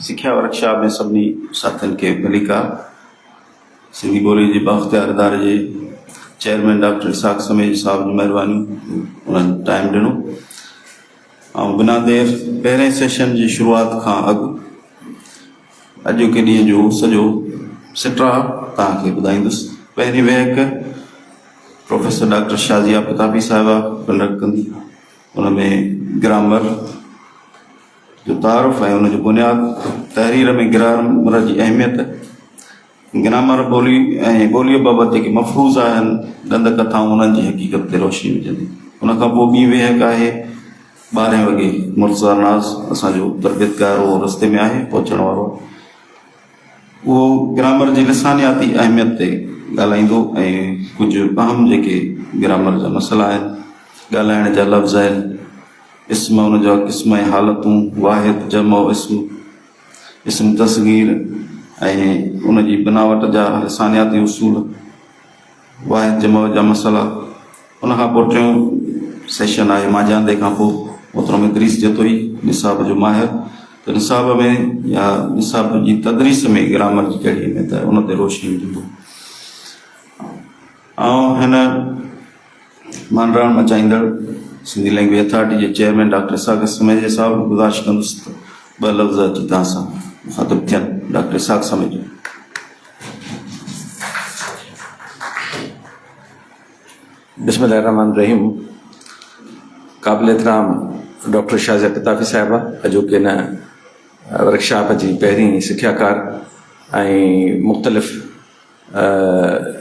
سکيا ورڪشاپ ۾ سڀني ساٿين کي مليڪا سنڌي ٻولي جي بااختيار اداري جي چيئرمين ڊاڪٽر اسحاق سميج صاحب جي مهربانيون انهن ٽائيم ڏنو ۽ بنا دير پهرين سيشن جي شروعات کان اڳ اڄوڪي ڏينهن جو سڄو سٽرا توهان کي ٻڌائيندس پهرين ويهڪ پروفيسر ڊاڪٽر شازيا پتابي صاحبه ڪنڊڪٽ ڪندي ان ۾ گرامر جو تعارف ۽ ان جو بنياد تحرير ۾ گرامر جي اهميت، گرامر ٻولي ۽ ٻوليء بابت جيڪي مفروضا آهن، ڏند ڪٿائون، انهن جي حقيقت تي روشني وجهندي. ان کان پوء ٻي ويهڪ آهي ٻارهين وڳي. مرتضيٰ ناز اسان جو تربيتگار هو رستي ۾ آهي پهچڻ وارو. اهو گرامر جي لسانياتي اهميت تي ڳالهائيندو ۽ ڪجهه اهم جيڪي گرامر جا مسئلا آهن، ڳالهائڻ جا لفظ آهن، اسم، ان جا قسم ۽ حالتون، واحد، جمع، اسم، اسم تصغير ۽ ان جي بناوٽ جا لسانياتي اصول. واحد جي مئو جا مسئلا ان کان پوء ٽيون سيشن آهي مانجهاندي کان پوء محترم ادريس جتوئي نصاب جو ماهر ته نصاب ۾ يا نصاب جي تدريس ۾ گرامر جي ڪهڙي اهميت آهي ان تي روشني وجهندو آئون هن مانڊراڻ مچائيندڙ سنڌي لينگويج اٿارٽي جي چيئرمين ڊاڪٽر اسحاق سميجي صاحب گذارش ڪندس ته ٻه لفظ اچي تان سان مخاطب ٿين ڊاڪٽر اسحاق سميجي بسم الله الرحمن الرحيم قابل احترام ڊاڪٽر شازيا قطافي صاحبه اڄوڪي هن ورڪشاپ جي پهرين سکياڪار ۽ مختلف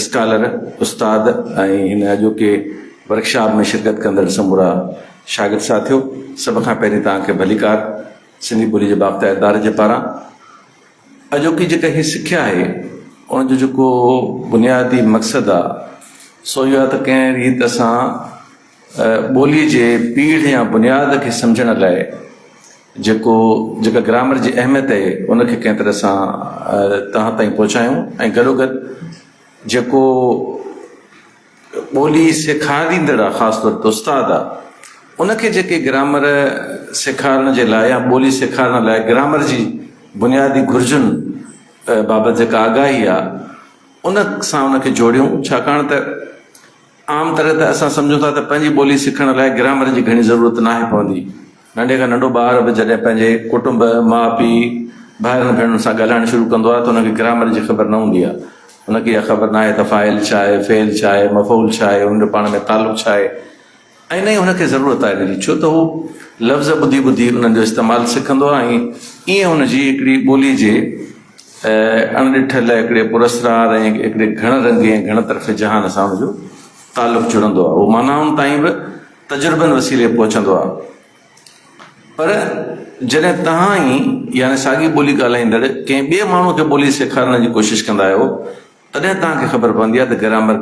اسڪالر استاد ۽ هن اڄوڪي ورڪشاپ ۾ شرڪت ڪندڙ سمورا شاگرد ساٿيو سڀ کان پهرين توهان کي ڀليڪار سنڌي ٻولي جي باختيار اداري جي پاران اڄوڪي جيڪا هي سکيا آهي ان جو جيڪو بنيادي مقصد آ سو اهو آ ته ڪنهن ريت اسان ٻولي جي پيڙهه يا بنياد کي سمجهڻ لاء جيڪو جيڪا گرامر جي اهميت آهي ان کي ڪنهن طرح سان توهان تائين پهچايون ۽ گڏوگڏ جيڪو ٻولي سيکاريندڙ آ خاص طور تي استاد آ ان کي جيڪي گرامر سيکارڻ جي لاء يا ٻولي سيکارڻ لاء گرامر جي بنيادي گهرجن بابت جيڪا آگاهي آ ان سان ان کي جوڙيون ڇاڪاڻ ته عام طرح ته اسان سمجهون ٿا ته پنهنجي ٻولي سکڻ لاء گرامر جي گهڻي ضرورت ناهي پوندي ننڍي کان ننڍو ٻار به جڏهن پنهنجي ڪٽنب، ماء پيء، ڀائرن ڀيڻن سان ڳالهائڻ شروع ڪندو آهي ته ان کي گرامر جي خبر نه هوندي آهي. ان کي اها خبر ناهي ته فاعل ڇا آهي، فعل ڇا آهي، مفعول ڇا آهي، ان جو پاڻ ۾ تعلق ڇا آهي ۽ نه ئي هن کي ضرورت آهي ان جي ڇو ته هو لفظ ٻڌي ٻڌي انهن جو استعمال سکندو آهي ۽ ائين هن جي هڪڙي ٻولي جي اڻ ڏٺل هڪڙي پراسرار ۽ هڪڙي گهڻ رنگي ۽ گهڻ طرفي جهان سان ان جو تعلق جڙندو آهي. اهو معنائن تائين به تجربن وسيلي پهچندو آهي پر جڏهن توهان ئي يعني ساڳي ٻولي ڳالهائيندڙ ڪنهن ٻئي ماڻهو کي ٻولي سيکارڻ جي ڪوشش ڪندا آهيو تڏهن توهان کي خبر پوندي آهي ته گرامر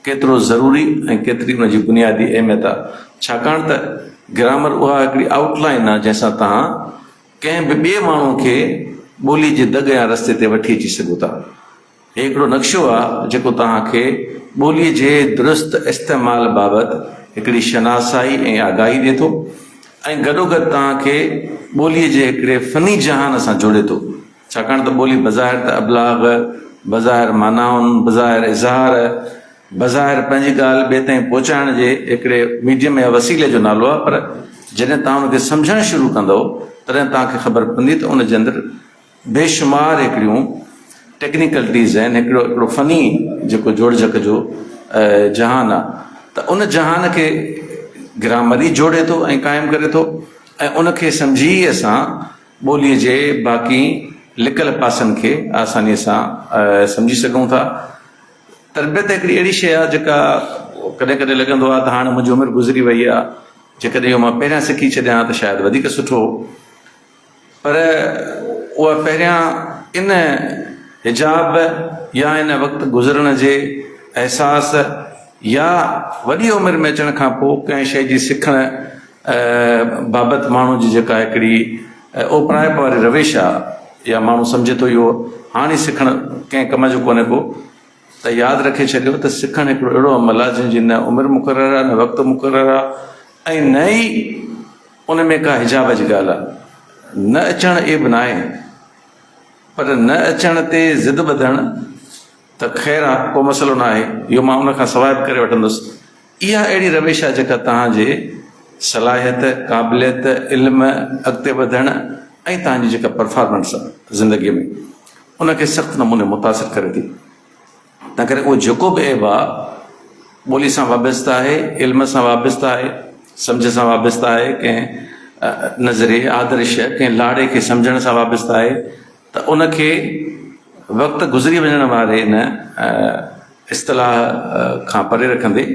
ڪيترو ضروري ۽ ڪيتري ان جي بنيادي اهميت آهي ڇاڪاڻ ته گرامر اها هڪڙي آئوٽ لائين آهي جنهن سان توهان ڪنهن به ٻئي ماڻهو کي ٻولي جي دڳ يا رستي تي وٺي اچي سگهو ٿا. هي هڪڙو نقشو آهي جيڪو توهان کي ٻوليء جي درست استعمال بابت هڪڙي شناسائي ۽ آگاهي ڏئي ٿو ۽ گڏوگڏ توهان کي ٻوليء جي هڪڙي فني جهان سان جوڙي ٿو ڇاڪاڻ ته ٻولي بظاهر ته ابلاغ، بظاهر معنائن، بظاهر اظهار، بظاهر پنهنجي ڳالهه ٻئي تائين پهچائڻ جي هڪڙي ميڊيم يا وسيلي جو نالو آهي پر جڏهن توهان ان کي سمجهڻ شروع ڪندؤ تڏهن توهان کي خبر پوندي ته ان جي اندر بيشمار هڪڙيون ٽيڪنيڪلٽيز آهن، هڪڙو هڪڙو فني جيڪو جوڙجڪ جو جهان آ ته ان جهان کي گرامر ئي جوڙي ٿو ۽ قائم ڪري ٿو ۽ ان کي سمجهي ئي اسان ٻوليء جي باقي لڪل پاسن کي آسانيء سان سمجهي سگهون ٿا. تربيت هڪڙي اهڙي شيء آ جيڪا ڪڏهن ڪڏهن لڳندو آ ته هاڻ منهنجي عمر گذري وئي آ جيڪڏهن اهو مان پهريان سکي ڇڏيان ها ته شايد وڌيڪ سٺو هو. پر اها پهريان ان حجاب يا ان وقت گذرڻ جي احساس يا وڏي عمر ۾ اچڻ کان پوء ڪنهن شيء جي سکڻ بابت ماڻهو جي جيڪا هڪڙي اوپرائپ واري روش آهي يا ماڻهو سمجهي ٿو اهو هاڻي سکڻ ڪنهن ڪم جو ڪونهي ڪو ته ياد رکي ڇڏيو ته سکڻ هڪڙو اهڙو عمل آهي جنهن جي نه عمر مقرر آهي نه وقت مقرر آهي ۽ نه ئي ان ۾ ڪا حجاب جي ڳالهه آهي نه اچڻ عيب ناهي پر نه اچڻ تي ضد ٻڌڻ ته خير آهي ڪو مسئلو ناهي اهو مان ان کان سواء به ڪري وٺندس اها اهڙي روش آهي جيڪا توهان جي صلاحيت، قابليت، علم، اڳتي وڌڻ ۽ توهان جي جيڪا پرفارمنس آهي زندگي ۾ ان کي سخت نموني متاثر ڪري ٿي. تنهن ڪري اهو جيڪو به عيب آهي ٻولي سان وابسته آهي، علم سان وابسته آهي، سمجهه سان وابسته آهي، ڪنهن نظريي، آدرش، ڪنهن لاڙي کي سمجهڻ سان وابسته آهي، ته ان کي وقت گذري وڃڻ واري ان اصطلاح کان پري رکندي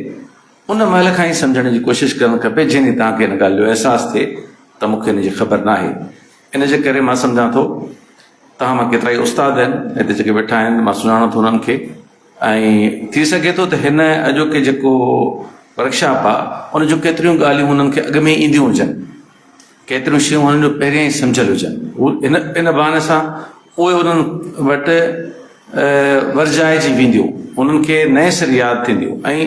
ان مهل کان ئي سمجهڻ جي ڪوشش ڪرڻ کپي جنهن ڏينهن توهان کي ان ڳالهه جو احساس ٿئي ته مون کي ان جي خبر ناهي ان جي ڪري مان سمجهان ٿو توهان مان ڪيترائي استاد آهن هتي جيڪي ويٺا آهن مان سڃاڻان ٿو انهن کي ۽ ٿي سگهي ٿو ته هن اڄوڪي جيڪو ورڪشاپ آهي ان جون ڪيتريون ڳالهيون هنن کي اڳ ۾ اينديون هجن ڪيتريون شيون هنن جو پهريان ئي سمجهيل هجن. هو ان بهاني سان پوء انهن وٽ ورجائجي وينديون، انهن کي نئين سر ياد ٿينديون ۽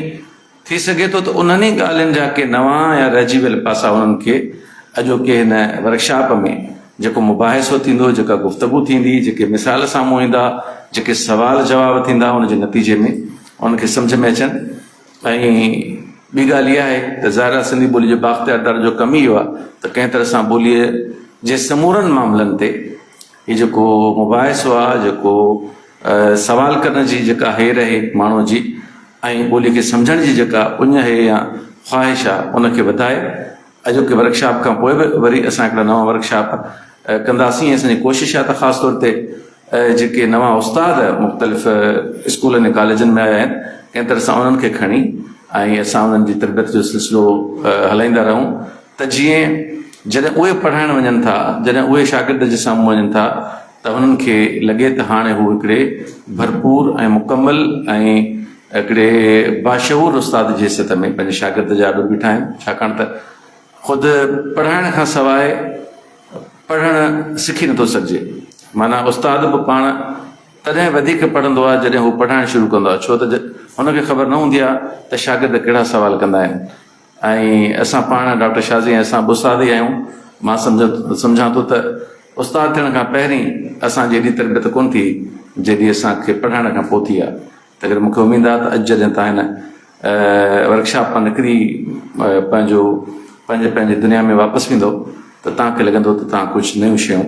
ٿي سگهي ٿو ته انهن ئي ڳالهين جا ڪي نوان يا رهجي ويل پاسا هنن کي اڄوڪي هن ورڪشاپ ۾ جيڪو مباحثو ٿيندو، جيڪا گفتگو ٿيندي، جيڪي مثال سامهون ايندا، جيڪي سوال جواب ٿيندا، ان جي نتيجي ۾ انهن کي سمجهه ۾ اچن. ۽ ٻي ڳالهه اها آهي ته ظاهر آهي سنڌي ٻولي جي بااختيار در جو ڪم ئي اهو آهي ته ڪنهن طرح سان ٻوليء جي سمورن معاملن تي هي جيڪو مباحثو آهي جيڪو سوال ڪرڻ جي جيڪا هير اهي ماڻهو جي ۽ ٻولي کي سمجهڻ جي جيڪا اڃ اهي يا خواهش آهي ان کي وڌائي اڄوڪي ورڪشاپ کان پوء به وري اسان هڪڙا نوان ورڪشاپ ڪنداسين ۽ اسان جي ڪوشش آهي ته خاص طور تي جيڪي نوان استاد مختلف اسڪولن ۽ ڪاليجن ۾ آيا آهن ڪنهن طرح سان انهن کي کڻي ۽ اسان انهن جي تربيت جو سلسلو هلائيندا رهون ته جيئن جڏهن اهي پڙهائڻ وڃن ٿا جڏهن اهي شاگرد جي سامهون وڃن ٿا ته هنن کي لڳي ته هاڻي هو هڪڙي ڀرپور ۽ مڪمل ۽ هڪڙي باشعور استاد جي حيثيت ۾ پنهنجي شاگرد جا اڏو بيٺا آهن، ڇاڪاڻ ته خود پڙهائڻ کان سواء پڙهڻ سکي نٿو سگهجي، معنيٰ استاد به پاڻ تڏهن وڌيڪ پڙهندو آهي جڏهن هو پڙهائڻ شروع ڪندو آهي، ڇو ته هن کي خبر نه هوندي آهي ته شاگرد ڪهڙا سوال ڪندا آهن. ۽ اسان پاڻ ڊاڪٽر شازي ۽ اسان به استاد ئي آهيون. مان سمجهان ٿو ته استاد ٿيڻ کان پهرين اسان جي ايڏي تربيت ڪونه ٿي جيڏي اسان کي پڙهائڻ کان پوء ٿي آهي. تنهن ڪري مون کي اميد آهي ته اڄ جڏهن توهان هن ورڪشاپ مان نڪري پنهنجو پنهنجي پنهنجي دنيا ۾ واپس ويندو ته توهان کي لڳندو ته توهان ڪجهه نيون شيون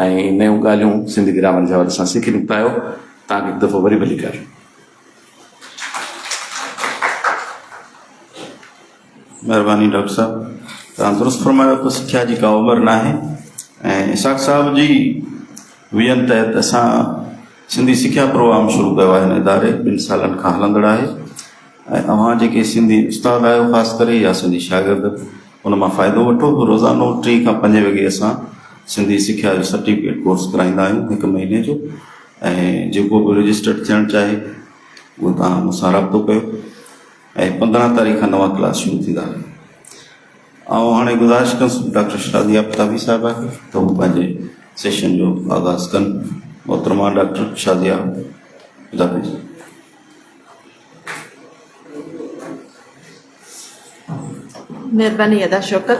۽ نيون ڳالهيون سنڌي گرامر جي حوالي سان سکي نڪتا آهيو. توهان کي هڪ دفعو وري ڀليڪار. مهرباني ڊاڪٽر صاحب توهان درست فرمايو ته سکيا جي ڪا عمر نه آهي ۽ اسحاق صاحب جي ويئن تحت اسان سنڌي سکيا پروگرام شروع ڪيو آهي هن اداري ٻن سالن کان هلندڙ آهي ۽ اوهان جيڪي سنڌي استاد آهيو خاص ڪري يا سنڌي شاگرد ان مان فائدو وٺو روزانو ٽي کان پنج وڳي اسان سنڌي سکيا جو سرٽيفڪيٽ ڪورس ڪرائيندا آهيون هڪ مهيني جو ۽ جيڪو به رجسٽرڊ ٿيڻ چاهي اهو توهان مون سان رابطو ڪيو ۽ پندرهن تاريخ کان نوان ڪلاس شروع ٿيندا آئون هاڻي گذارش ڪنس ڊاڪٽر شادي آفتابي صاحب کي ته هو پنهنجي سيشن جو آغاز ڪن محترمه ڊاڪٽر شادي آفتابي جي مهرباني ادا شوڪت